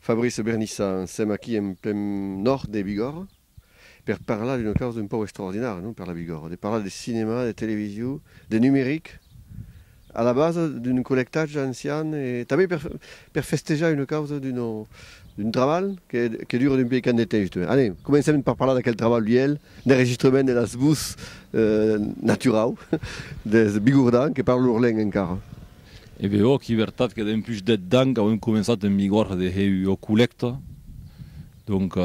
Fabrice Bernissa, sèm aquí en plen nòrd de Bigòrre per parlar d'una causa un pauc extraordinària, non, per la Bigòrre, de parlar de cinema, de televisiu, de numeric, a la basa d'un collectatge ancian e tanben per Per festejar una causa d'un trabalh que dura d'un piècant de temps. Allez, comencem per parlar d'aquel trabalh uèlh d'enregistrament de las vos naturau des Bigordans que parlan lor lenga encara. E be òc, i vertat que dempús dèt d'an qu'auem començat en Bigòrda de hèu ua collècta, donc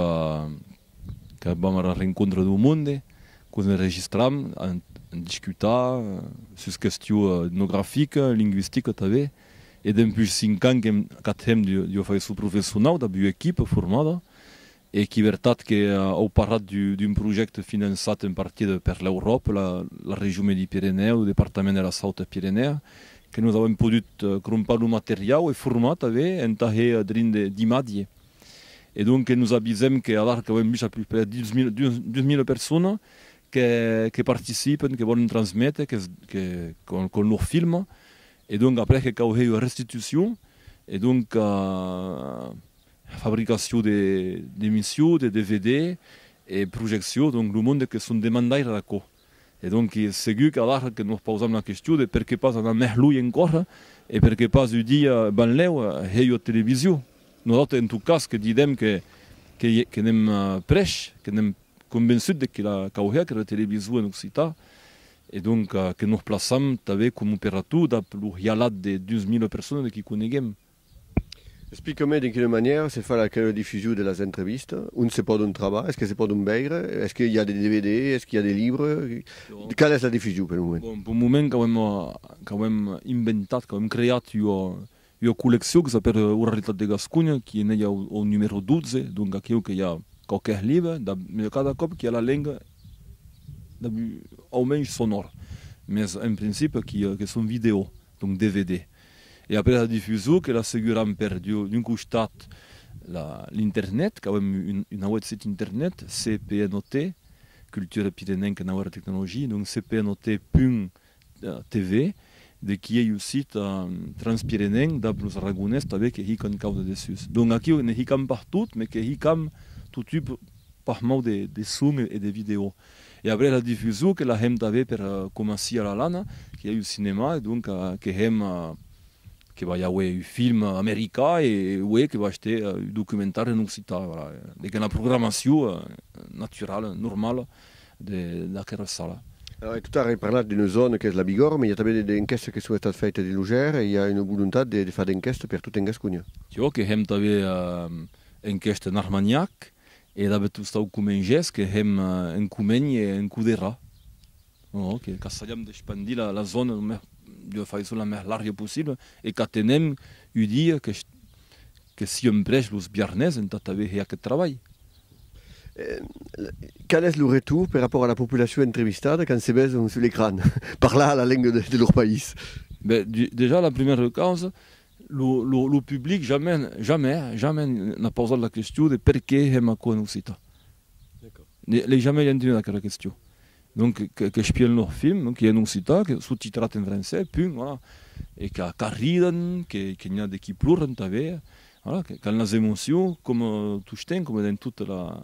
que vam ara rencontre dau monde, quos enregistram, en discutar sus questiu etnografica, linguistica tanben, E dempús cinc ans que qu'atem d'ua façon professionau dab ua equipa formada e qui vertat que au parlat d'un projècte finançat en partida per l'Euròpa, la Region Medi-Pirenèu, lo departament de la Sauta Pirenèa, que nos auem podut crompar lo materiau e formar tanben entà hèr drin de d'imatge. E donc que nos avisem que alara qu'auem dus a puspèr dus mila persona que participen, que vòlen transméter, que con lor film E donc après que cau hèr ua restitucion, e donc fabricacion de d'emission de dvd e projeccion, donc lo monde que son demandaire d'aquò. E donc que segur qu'alara que nos pausam la question de per que pas anar mès luei encora e per que pas un dia benlèu hèr ua television. Nosautres en tot cas que didem que que n'èm prèch, que n'èm convençut de que la cau hèr aquera television en occitan E donc que nos plaçam tanben com operator dab lo hialat de 12.000 personas que coneguem. Explica-me de quina manièra se fa la radiodifusion de las entrevistas? Ont se pòdon trabar? Es que se pòdon veire? Es que i a de dvd? Es que i a de libre? Quala es la difusion pel moment? Bon, pel moment qu'auem inventat, qu'auem creat Ua colleccion que s'apèl Oralitat de Gasconha, qui en ei au numèro 12, donc aquiu que i a quauquèth libre, dab cada còp qui a la lenga dab au mensh sonor, mès en principi qui que son vidèo, donc dvd. E après era difusion que l'asseguram per d'un costat la l'internet, qu'auem un auet sit internet, CPNOT, Culture Pirenenque Nau era Tecnologie, donc cpnot. TV, de qui ei un sit transpirenenc dab los Aragonés tanben que hican cau de dessús. Donc aquiu ne hicam partout, mes que hicam totú pas mau de son e de vidèo. E après la difusó que la hèm tanben per coma sia la lana, que ei un cinema e donc que hèm que vai auer un film americà e uèi que vaig ter un documentari en occità, voilà, de que la programació naturala, normala de d'aquera sala. E tot ara ai parlat d'una zòna qu'es la Bigòrra, mai i a tanben de d'enquèstas que son estat faitas dins lo Gèr e i a una volontat de far d'enquèsta per tot en Gasconha. Jo que hèm tanben enquèsta en Armagnac e dabé tot stau comengés que hèm en Comènh e en Coderha. Ò que qu'assajam d'expandir la la zòna lo mès de far çò la mès larga possibla e qu'atenèm ua dia que que siemprèsh los biarnés entà tanben hèr aqueth trabalh. Qual es lo retor per rapòrt a la populacion entrevistada quand se besonh sus l'ecran parlar la lenga de lor país? Ben, dejà la primièra causa, lo public jamai, jamai, jamai n'a pausat la question de perqué hèm aquò en occitan. L'ai jamai entenut aquela question. Donc qu'espièn lor film, donc qu'ei en occitan, qu'ei sotitrat en francés, punt, voilà, e qu'arridan, que n'i a de qui ploran tanben, voilà, qu'an las emocions coma tostemps, coma dens tota la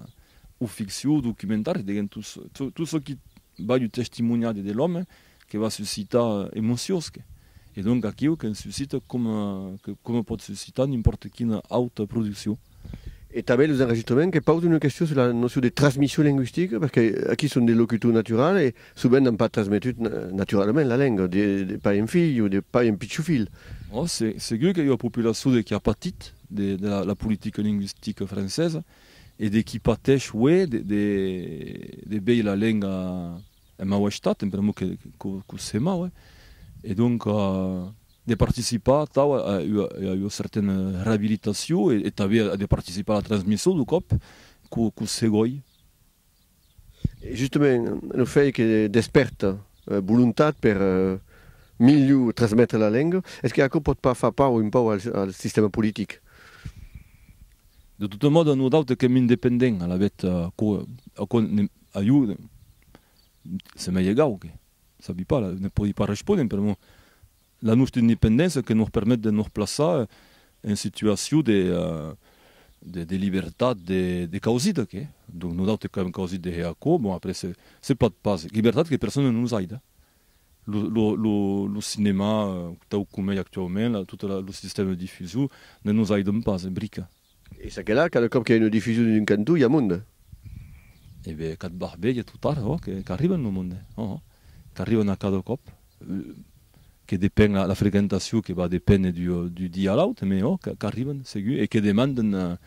o ficcion o documentari, diguem, tot çò, tot çò qui balh ua testimoniada de l'òme que va suscitar emocions, que, e donc aquiu qu'en suscita coma, que coma pòt suscitar n'impòrta quina auta produccion. E tanben los enregistrements que pausen una question sur la notion de transmission linguistique, perque aquí son de locutor natural e sovent n'an pas transmetut naturalament la lenga, de pair en filh o de pair en pichon filh. Ò, se, segur que i a ua populaçon de qui a patit de la la politica linguistica francesa e de qui patèsh aué de de de veir la lenga en mau estat, en pr'amor que que que se mau, eh. E donc. de participar atau a ua certaina reabilitacion e tanben de participar a la transmission dau còp qu'o segòi. E justament, lo fait que despèrta volontat per milhor transmetre la lenga, es que aquò pòt pas far paur un pauc al sistèma politic? De tota mòda, nosautes qu'èm independents, alavetz, aquò a ieu se m'es egau que. Sabi pas, ne pòdi pas respóner, per amor, la nòstra independéncia que nos permet de nos plaçar en situacion de de libertat de causida que donc nosautres qu'avèm causit de hèr aquò, bon après se se pòt pas, libertat que persona ne nos aida, lo lo lo lo cinemà tau coma ei actuaument, tota la lo sistèma de difusion ne nos aidon pas brica, E ça que là, cada còp que i a una difusion dins un cantó, i a monde. E ben, qu'ath barbelhe totard, oh, qu'arriben lo monde, oh, oh, qu'arriben a cada còp, que depen la frequentacion que va depéner du dia a l'aute, mais oh, qu'arriben segur, e que demanden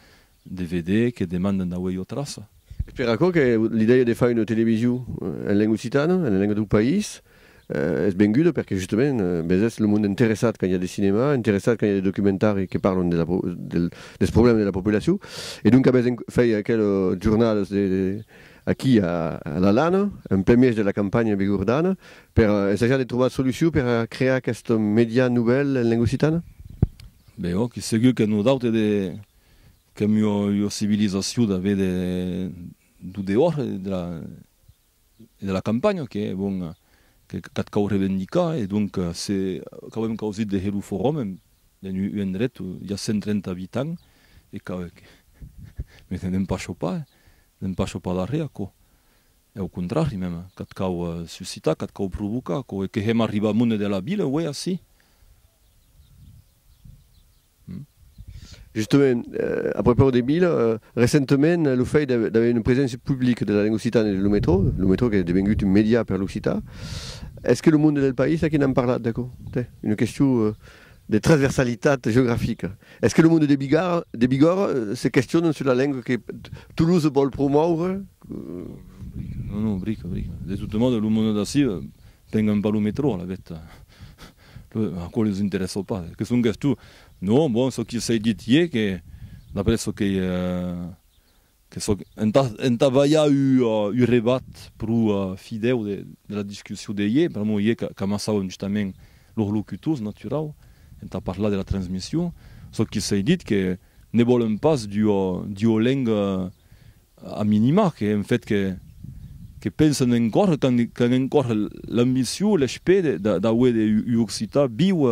de veder, que demanden d'auer ua traça. Es per aquò que l'idèia de far una television en lenga occitana, en lenga dau país. Es benguda perque justament bes es lo monde interessat quand i a de cinema, interessat quand i a de documentari que parlon de la dels problèmes de la populacion e donc bes en fai aqueles jornadas de aquí a la lana en plen mièg de la campanha bigordana per essajar de trobar solucion per crear aqueste median novèl en lenga occitana? Ben òc, segur que non daute de qu'es miò ua civilizacion d'aver de d'o dehòr de la de la campanha que bon que qu'ath cau revendicar e donc se qu'auem causit de hèr lo forum en un endret ua i a 130 abitants e que me n'en pas chopar n'en pas chopar darrèr aquò e au contrari mem qu'ath cau suscitar qu'ath cau provocar aquò e que hèm arribat monde de la vila uèi ací. Justement, a prepaus de Bila, recentement lo fèit d'aver una preséncia publica de la lenga occitana dins lo metro, lo metro qu'es devengut un medià per l'occitan, es que lo monde del país aquí n'an parlat d'aquò? Tè, una question de transversalitat geografica. Es que lo monde de Bigòrra se questionan sus la lenga que Toulouse vòl promòure? Non, non, brica, brica. De totes modes, lo monde d'ací pengan pas lo metro, a la veta. Aquò los interessa pas, que songues tu. Non, bon, çò que s'ei dit ié que, d'après çò qu'ei, que çò entà vaiá ua rebat pro fidèu de la discussion de ié, pr'amor ié qu'amassàvem justament los locutors, naturau, entà parlar de la transmission, çò que s'ei dit que ne vòlem pas d'ua lenga A minima que en fet que pensan en córrer qu'an en córrer l'ambicion, l'espèr d'auer de l'occitan viu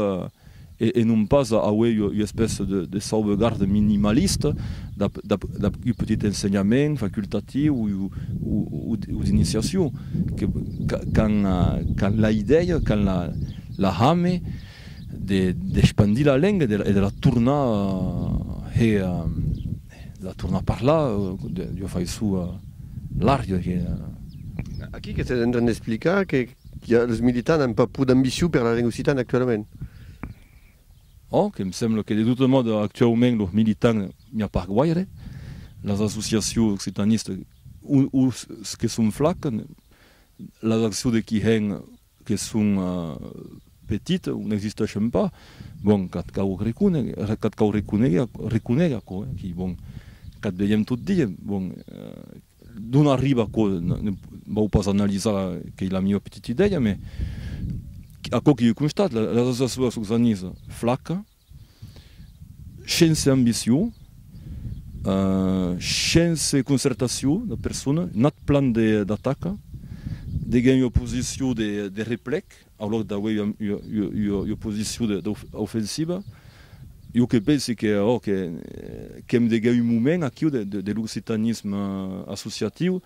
e non pas auer ua espèça de sauvegarde minimalista dab un petit ensenhament facultatiu o d'iniciacion, qu'an la idèia, qu'an la hame d'espandir la lenga e de la tornar hè. La torna parlar, jo fai su l'arria que. Aquí que s'es en tren d'explicar que los militants an pas pro d'ambicion per la lenga occitana actualament. Ò, que em sembla que de tota mòda actuaument los militants n'i a pas guaire, las associacions occitanistas o que son flacas, las accions de qui hèn que son petit, o n'existeixen pas, bon, qu'ath cau reconéger, reconéger aquò, eh, qui, bon, qu'ath veiem tot dia, bon, d'on arriba aquò, ne vau pas analisar, qu'ei la miua petita idèia, mais aquò que jo constate, la societat occitaniza flaca, Shense ambició, shense concertació de persona, nat plan d'ataca, deguèm ua posició de replèc au lòc d'auer ua posició d'ofensiva. Jo que pensi que ò qu'èm deguèu un moment aquiu de l'occitanisme associatiu,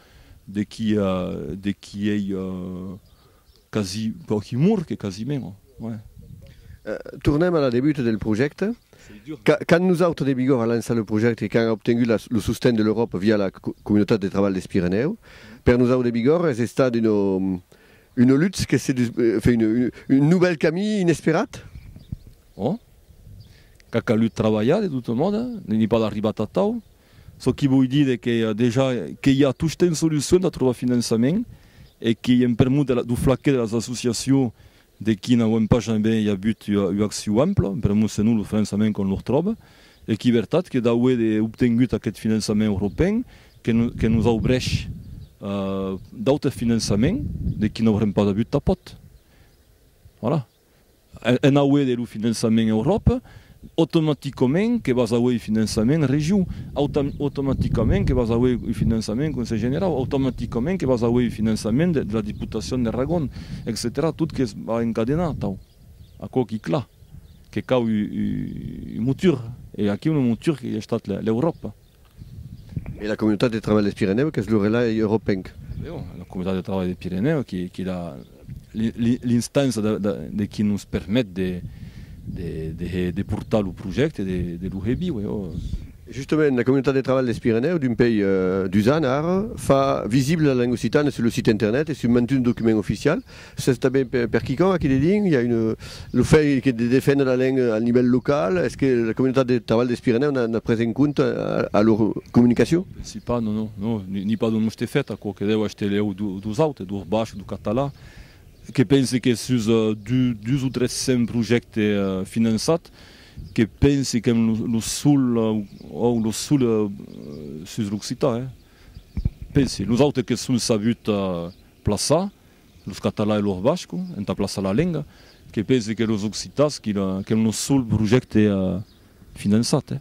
de qui ei Quasi quauqui mur que quasi meno, ouais. Tornem a la debut del projècte. Quand nosautres de Bigorre a lançat lo projècte e quand a obtengut lo sosten de l'Euròpa via la Comunitat de Trabalh des Pirenèus, per nosautres de Bigorre es estat una lutz que se dus, enfin un novèl camí inesperat. Bon, qu'a calut trabalhar de tota mòda, ne n'i pas arribat atau, Çò qui voi dire que dejà que i a tostemps solucion d'a trobar finançament e que i en permut de la du flaquet de las associacion de qui n'auem pas jambe i avut ua acciu ampla, en permut senon lo finançament qu'on lor tròbe e qui vertat que d'auer de obtengut aqueth finançament europen que que nos aubrèsh d'autes finançament de qui n'aurem pas avut tapot. Voilà. En auer de lo finançament Euròpa, automaticament que vas auer un finançament region, automaticament que vas auer un finançament Conselh Generau, automaticament que vas auer un finançament de la Diputacion de Ragon, etcetèra Tot que va encadenar atau. Aquò qui cla que cau un motor e aquiu lo motor qu'ei estat l'Euròpa. E la Comunitat de Trabalh des Pirenèus qu'es lo relai europenc. La Comunitat de Trabalh des Pirenèus qu'es l'instança de qui nos permet de portar lo projècte de lo Hebiu. Justament, la Comunitat de Trabalh des Pirenèus, d'un pei dus ans ara, fa visibla la lenga occitana sus lo site internet e sus mantuns documents oficials. Sètz tanben per quicòm aquí de dins? I a un, lo fèit de defendre la lenga al nivèl local, es que la comunitat de trabalh dels Pirenèus n'a pres en compte a lor comunicacion? Pensi pas, non, non, non, ni pas d'un oste fèt, aquò que deu aste lèu dos autes, dos bachs, dos catalans, que pensi que sus dus o tres cents projèctes finançats, que pensi qu'èm lo sol, òu, lo sol sus l'occitan, eh! Pensi, los autes que son sabuts plaçar, Los català e lor basco entà plaçar la lenga, que pese que los occitans, quilh qu'èm lo sol projècte finançat, eh?